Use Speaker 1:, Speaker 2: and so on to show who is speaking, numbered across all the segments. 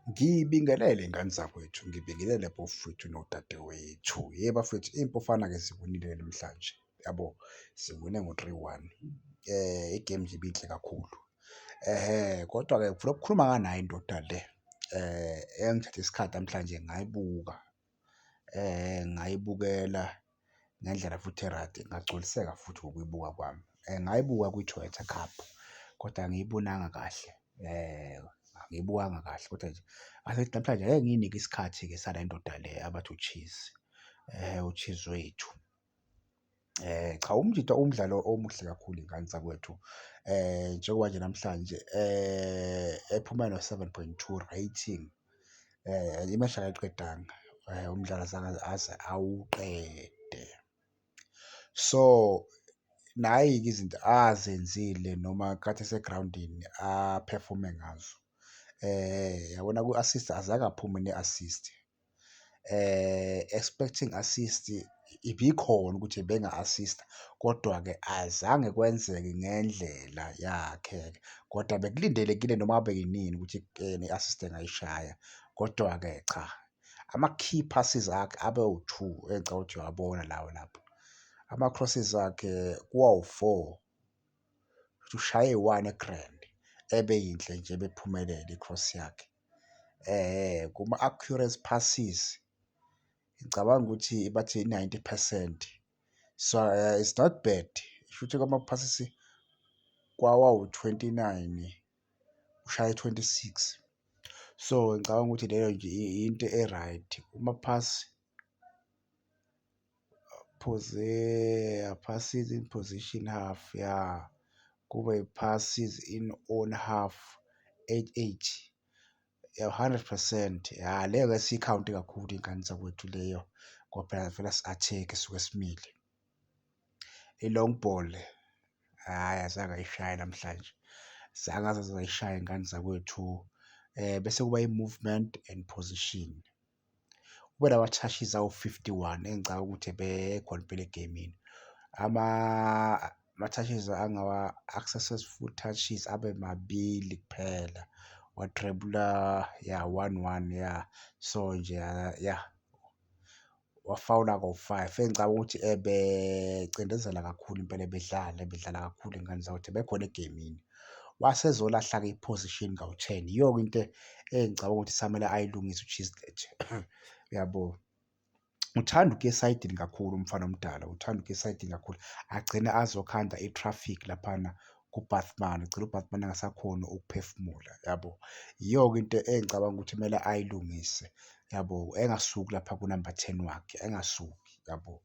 Speaker 1: Ngibingelele ngane zakwethu, ngibingelele bafwethu nodadewethu. Yey bafwethu iy'mpofana-ke ziwinile namhlanje yabo, ziwine ngo-three one. I-game nje ibinhle kakhulu kodwa-ke ngifuna ukukhuluma nganaye ndoda le engithathe isikhathi namhlanje ngayibuka. ngayibukela ngendlela futhi e-right, ngagculiseka futhi ngokuyibuka kwami. Ngayibuka kwi-Toyota Cup kodwa angiyibonanga kahle, angiyibukanga kahle kodwa nje ngathi ngithi namhlanje ngeke ngiyinike isikhathi-ke sale ndoda le abathi uCheese, uCheese wethu. Eh, cha umjita umdlalo omuhle kakhulu iy'ngane zakwethu eh njengoba nje namhlanje eh ephuma no-seven point two rating eh imeshi akayiqedanga eh umdlalo azange aze awuqede. So nayi-ke izinto azenzile noma kade esegrawundini a-perform-e ngazo eh yabona ku-assist azange aphume ne-assist Expecting assist ibikhona ukuthi benga-assist-a kodwa-ke azange kwenzeke ngendlela yakhe kodwa bekulindelekile noma ngabe inini ukuthi i-assist engayishaya. Kodwa-ke cha ama-key passes akhe abe wu-two engicabanga ukuthi uyawabona lawo lapho. Ama-crosses akhe kuba wu-four, kushuthi ushaye eyi-one egrandi ebe yinhle nje ebe iphumelele i-cross yakhe. kuma-accuracy passes ngicabanga ukuthi bathi i-ninety percent so it's not bad, shuthi kwama-passes kwawawu-twenty nine ushaye twenty-six. So ngicabanga ukuthi leyo nje into e-right . Pose, passes in position half ya kube passes in own half eight eight ya hundred percent ya leyo ke siyikhawunti kakhulu ingane zakwethu leyo ngoba phela vele si-attack suke simile i-long ball hhayi azange ayishaye namhlanje zange azaze zayishaya ingane zakwethu um bese kuba i-movement and position. Ubona ama-touches awu-fifty one engicabanga ukuthi ebekho impela egemini. Ama-touches successful touches abe mabili kuphela, wathrebula ya one one ya so nje ya wafawula ngo-five engicabanga ukuthi ebecindezela kakhulu impela, ebedlala ebedlala kakhulu iy'ngane zakwethu ebekhona egemini. wase ezolahla-ke iphozishini kawu-ten. Yiyo-ke into engicabanga ukuthi samele ayilungise uChislett, uyabo. Uthanda ukuya esayidini kakhulu umfana omdala, uthanda ukuya esayidini kakhulu. Agcine azokhanda i-traffic laphana kuBathman, ugcine uBathman engasakhoni ukuphefumula, yabo. Yiyo-ke into engicabanga ukuthi kumele ayilungise, yabo. Engasuki lapha kunamba ten wakhe, engasuki, yabo.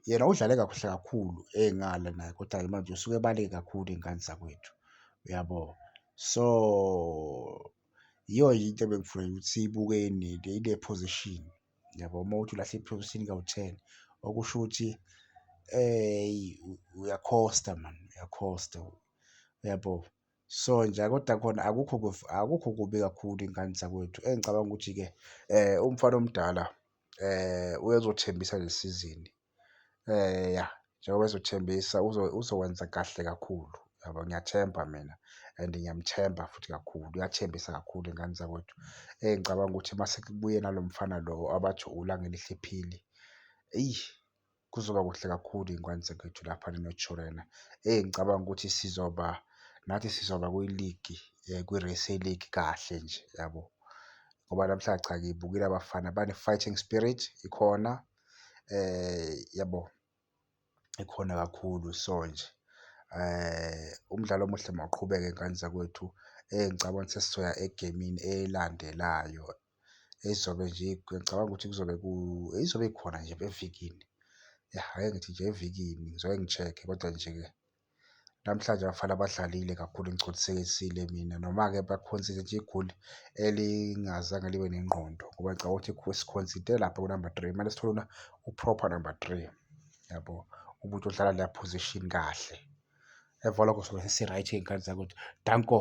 Speaker 1: Yena udlale kahle kakhulu ey'ngale naye kodwa-ke manje usuke ebaleke kakhulu iy'ngane zakwethu, uyabo? So, yiyo nje into ebengifuna ukuthi siyibuke ile position, uyabo? Uma uthi ulahle i-position kawu-ten, okusho ukuthi uyakhosta mani, uyakhosta, uyabo? Sonja, Kodwa khona akukho akukho kubi kakhulu iy'ngane zakwethu. Engicabanga ukuthi-ke umfana omdala uyezothembisa le sizini ya njengoba ezothembisa uzokwenza kahle kakhulu yabo. Ngiyathemba mina and ngiyamthemba futhi kakhulu, uyathembisa kakhulu iy'ngane zakwethu. Engicabanga ukuthi uma sekubuye nalo mfana lo abathi uLangelihle Phili, eyi. Kuzoba kuhle kakhulu iy'ngwane zakwethu lapha ne-North Shore lena. Eyi ngicabanga ukuthi sizoba nathi sizoba kwiligi kwi-Racing League kahle nje yabo. Ngoba namhla cha ngibukile abafana bane-fighting spirit ikhona yabo ikhona kakhulu so nje umdlalo omuhle mawuqhubeke ngane zakwethu. Eyi ngicabanga ukuthi sesizoya egemini elandelayo. ezizobe nje ngicabanga ukuthi kuzobe ku ezizobe khona nje evikini. Ya ake ngithi nje evikini ngizoke ngi-check-e kodwa nje-ke namhlanje abafana badlalile kakhulu ngigculisekile mina. Noma-ke bakhonsive nje igoli elingazange libe nengqondo ngoba ngicabanga ukuthi sikhonside lapha kunamba three kumele sithole u-proper number three yabo umuntu odlala leya position kahle. Emva kwalokho sobe sesi-right ngey'khathi zakhe ukuthi danko.